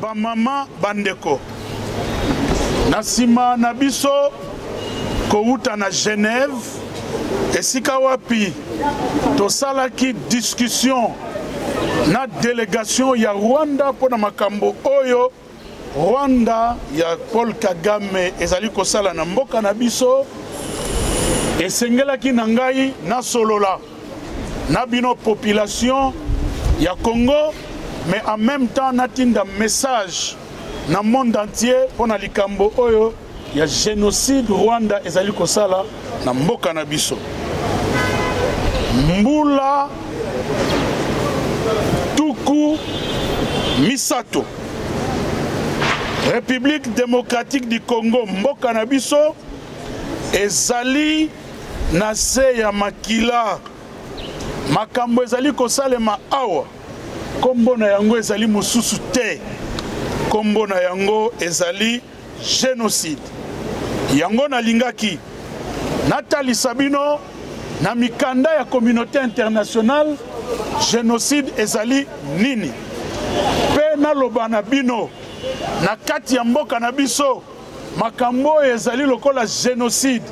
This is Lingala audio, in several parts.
Bamama, bandeko, na nsima na biso kowuta na Genève, esika wapi tosalaki discussion na delegation ya Rwanda mpo na makambo oyo Rwanda ya Paul Kagame ezali kosala na mboka na biso, esengelaki na ngai nasolola na bino population ya Congo mais en même temps natinda message na monde entier mpo na likambo oyo ya génocide Rwanda ezali kosala na mboka na biso mbula tuku misato République démocratique du Congo mboka na biso ezali na se ya makila makambo ezali kosalema awa nkombo na yango ezali mosusu te nkombo na yango ezali genocide yango nalingaki natalisa bino na mikanda ya communauté internationale genocide ezali nini mpe naloba na bino na kati ya mboka na biso Makambo oyo ezali lokola genocide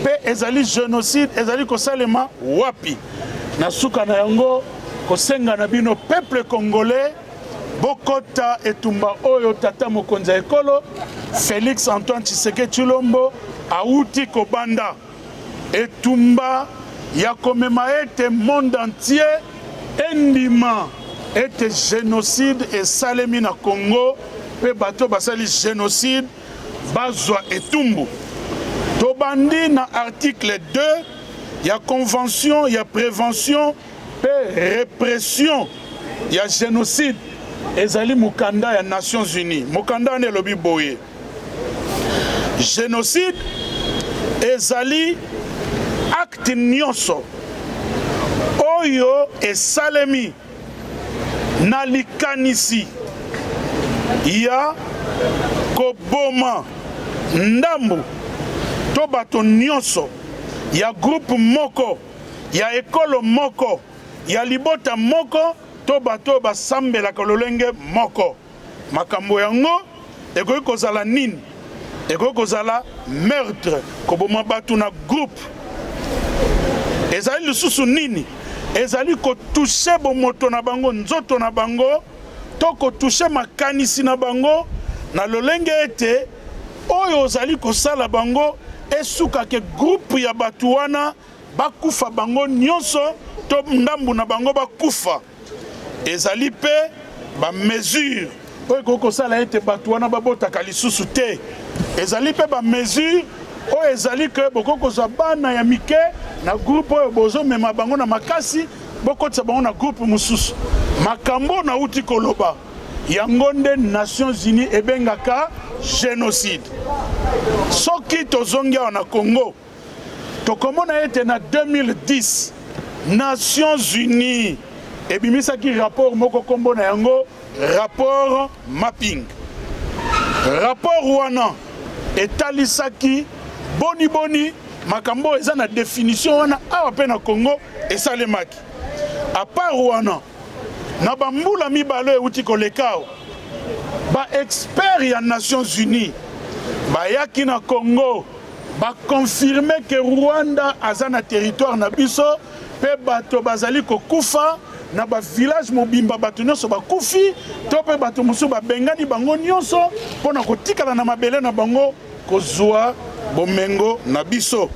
mpe ezali genocide ezali kosalema wapi? Na suka na yango kosenga na bino peuple congolais bokota etumba oyo tata mokonzi ya ekolo Felix Antoine Tshisekedi Tshilombo awuti kobanda. Etumba ya komema ete monde entier endima ete genocide esalemi na Congo mpe bato basali genocide bazwa etumbu. Tobandi na article 2 ya convention ya prévention mpe répression ya genocide ezali mokanda ya Nations Unies. Mokanda wana elobi boye. genocide ezali acte nyonso oyo esalemi na likanisi ya koboma ndambu to bato nyonso ya groupe moko ya ekolo moko ya libota moko to bato oyo basambelaka lolenge moko Makambo yango ekoki kozala nini? Ekoki kozala meurtre, koboma bato na groupe. Ezali lisusu nini? Ezali kotushe bomoto na bango, nzoto na bango, to kotushe makanisi na bango na lolenge ete oyo ozali kosala bango esuka ke groupe ya bato wana bakufa bango nyonso to ndambo na bango bakufa. ezali mpe bamesure oyo ekoki kosala ete bato wana babotaka lisusu te ezali mpe bamesure oyo ezali ke bokoki kozwa bana ya mike na groupe oyo bozomema bango na makasi bokotisa bango na groupe mosusu makambo oyo nauti koloba yango nde nations unies ebengaka génocide soki tozongi awa na congo tokomona ete na 2010 nations unies ebimisaki rapport moko nkombo na yango rapport mapping rapport wana etalisaki boniboni makambo oyo eza na definition wana awa mpe na congo esalemaki apart wana na bambula mibale oyo euti kolekao baexpert ya nations unies bayaki na congo ba confirmer que Rwanda aza na territoire na biso pe bato bazali kokufa na ba village mobimba bato nyonso bakufi to pe bato mosusu babengani bango nyonso mpo na kotikala na mabele na bango kozwa bomengo na biso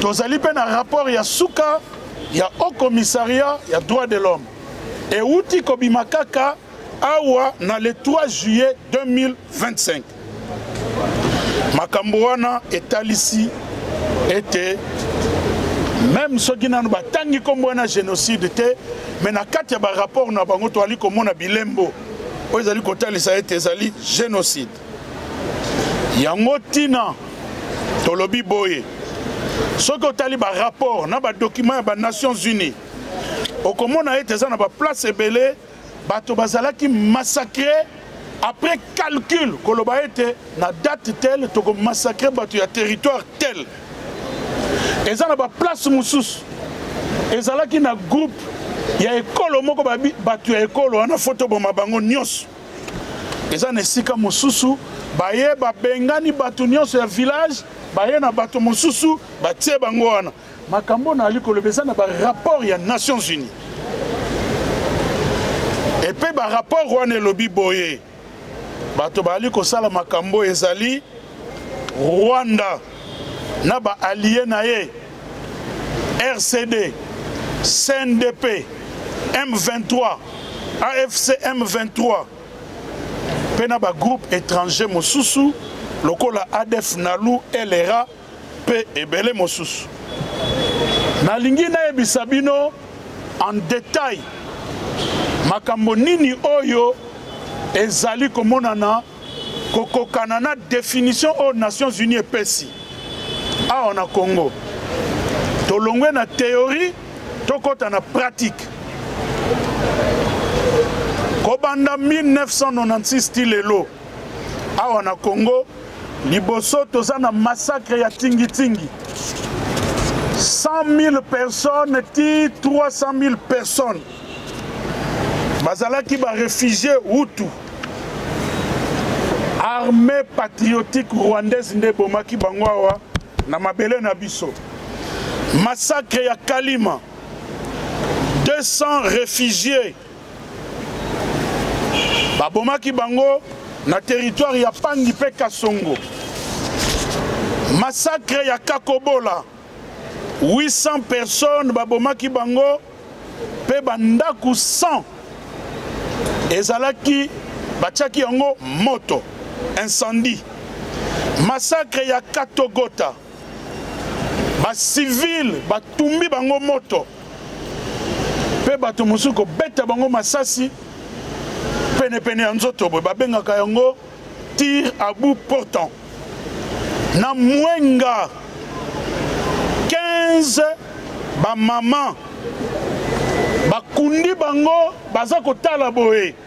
tozali mpe na rapport ya suka ya haut commissariat ya droit de l'homme euti kobima kaka awa na le 3 juillet 2025 makambo wana etalisi ete meme soki nano batangi nkombo wana génocide te mais na kati ya barapport na bango toali komona bilembo oyo ezali kotalisa ete ezali génocide yango ntina tolobi boye soki otali barapport na badokima ya banations unies okomona ete eza na baplace ebele bato bazalaki massacre après calcul koloba ete na date tel tokomassacre bato ya territoire tel eza na baplace mosusu ezalaki na groupe ya ekolo moko bato ya ekolo wana fotoboma bango nyonso eza na esika mosusu baye babengani bato nyonso ya village baye na bato mosusu batie bango wana makambo na ali koloba eza na ba rapport ya nations unis epe ba rapport wana elobi boye bato baali kosala makambo ezali rwanda na ba allier na ye rcd cndp m23 afc m23 mpe na bagroupe étranger mosusu lokola adf nalu lra mpe ebele mosusu. Nalingi nayebisa bino en detail makambo nini oyo ezali komonana kokokana na definition oyo Nations Unies epesi awa na Congo. Tolongwe na theorie tokɔta na pratique. Kobanda 1996 ti lelo awa na Congo Liboso toza na massacre ya tingi tingi. 100 000 personnes ti 300 000 personnes bazalaki ba réfugiés Hutu. Armée patriotique rwandaise nde bomaki bango awa na mabele na biso. Massacre ya Kalima 200 réfugiés babomaki bango na teritware ya pangi mpe kasongo masakre ya kakobola 800 personnes babomaki bango mpe bandako 100 ezalaki batiaki yango moto incendie masakre ya katogota bacivile batumbi bango moto mpe bato mosusu kobeta bango masasi penepene ya nzoto boye babengaka yango tir à bout portant na mwenga 15 bamama bakundi bango baza kotala boye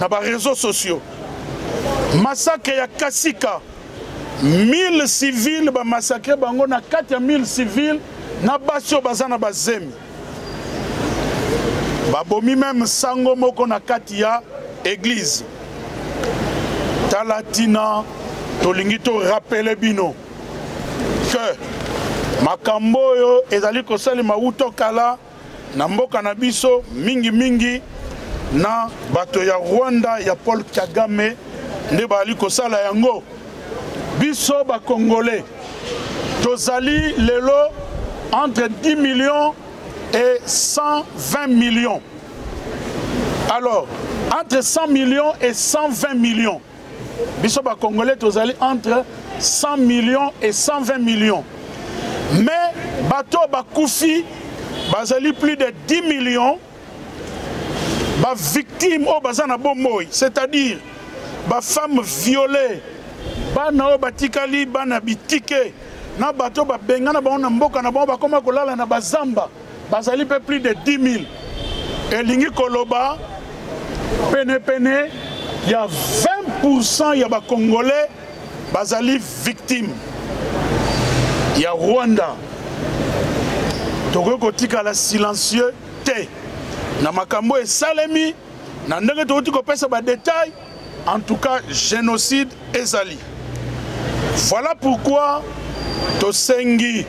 na ba réseaux sociaux massacre ya kasika 1000 civile bamassacre bango na kati ya 1000 civile na basi oyo baza na bazemi babomi meme sango moko na kati ya eglize tala ntina tolingi torapele bino ke makambo oyo ezali kosalema wuto kala na mboka na biso mingi mingi na bato ya rwanda ya paul kagame nde bazali kosala yango biso bakongole tozali lelo entre 10 millions et 120 millions alors entre 100 millions et 120 millions biso ba congolais tozali entre 100 millions et 120 millions mais bato bakufi bazali plus de 10 millions bavictime oyo baza na bomoi c'est-à-dire bafemme viole bana oyo batikali bana bitike na bato babengana bango na mboka na bango bakoma kolala na bazamba bazali mpe plus de 10 000 elingi koloba penepene ya 20 ya bacongolais bazali victime ya rwanda tokoki kotikala silencieux te na makambo esalemi na ndenge tokoki kopesa badetail En tout cas, génocide ezali. Voilà pourquoi tosengi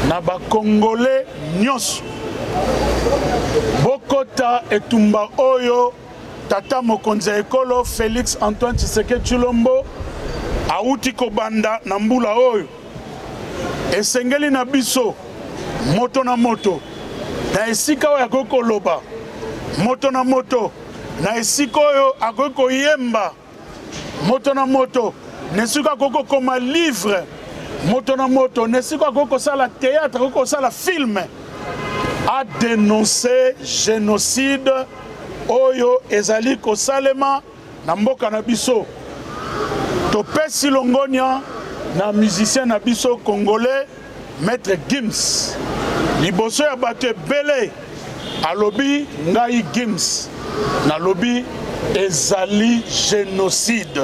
na ba Congolais nyonso bokota etumba oyo tata mokonzi ya ekolo Félix Antoine Tshisekedi Tshilombo awuti kobanda na mbula oyo. Esengeli na biso moto na moto na esika oyo akoki koloba moto na moto na esika oyo akoki koyemba moto na moto na esika akoki kokoma livre moto na moto na esika akoki kosala théâtre akoki kosala filme a denonce génocide oyo ezali kosalema na mboka na biso topesi longonia na musicien na biso congolais Maitre Gims liboso ya bato ebele alobi ngai Gims nalobi ezali génocide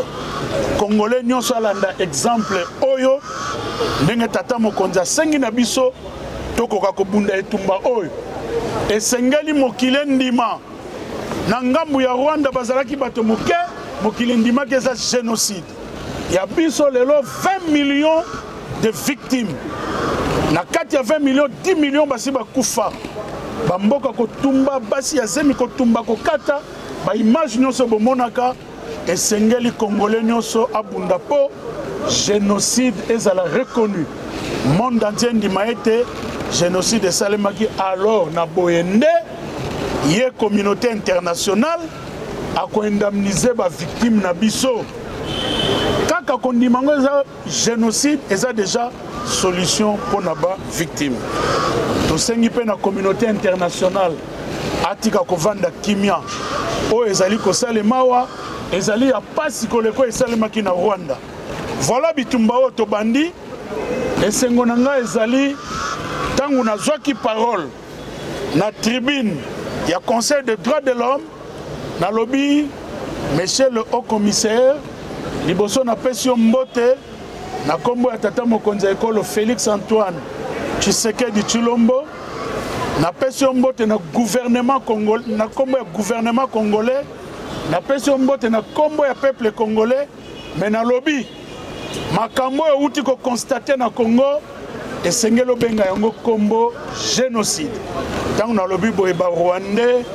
congolais nyonso alanda exemple oyo ndenge tata mokonzi asengi na biso tokoka kobunda etumba oyo esengeli mokili endima na ngambo ya rwanda bazalaki bato moke mokili endimaki eza génocide ya biso lelo 20 millions de victimes na kati ya 20 millions 10 millions basi bakufa bamboka kotumba basi ya zemi kotumba kokata baimage nyonso bomonaka esengeli congolais nyonso abunda mpo génocide ezala reconnu monde entier endima ete génocide esalemaki alors na boye nde ye communauté internationale ako indemniser ba victimes na biso kaka kondima ngo eza génocide eza déjà solution mpo na ba victime tosengi mpe na communauté internationale atika kovanda kimia oyo ezali kosalema awa ezali ya mpasi koleko esalemaki na rwanda voilà bitumba oyo tobandi esengo na ngai ezali ntango nazwaki parole na tribune ya conseil de droit de l'homme nalobi monsieur le haut commissaire liboso napesi yo mbote na nkombo ya tata mokonzi ya ekolo félix antoine tshisekedi tshilombo napesi yo mbote na gouvernement congolais na nkombo ya gouvernement congolais napesi yo mbote na nkombo ya peuple congolais Mais na lobi makambo oyo outi ko constate na Congo esengeli obenga yango kombo génocide ntango nalobi boye barwandais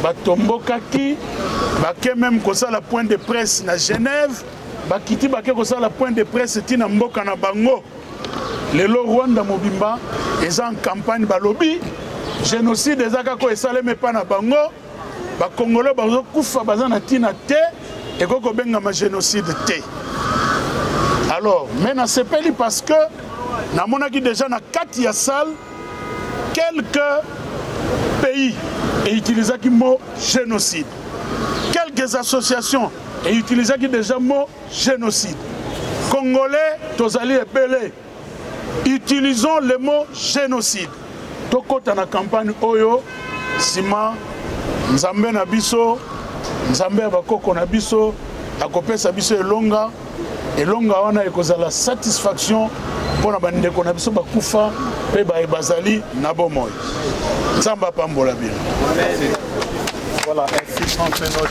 batombokaki bake meme kosala point de presse na genève bakiti bake kosala point de presse ti na mboka na bango lelo rwanda mobimba eza en campagne balobi génocide eza kaka oyo esalemi epai na bango bakongolo bazokufa baza na ntina te ekoki kobengama génocide te alors mais nasepeli parce que namonaki déjà na kati ya salle quelques pays eutilisaki mot génocide quelques associations eutilisaki déjà mot génocide congolais tozali ebele utilisons le mot génocide tokɔta na campagne oyo nsima nzambe na biso nzambe ya bakoko na biso akopesa biso elonga elonga wana ekozala satisfaction mpo na bandeko na biso bakufa mpe baye bazali na bomoi nzambe apambola bino voilà,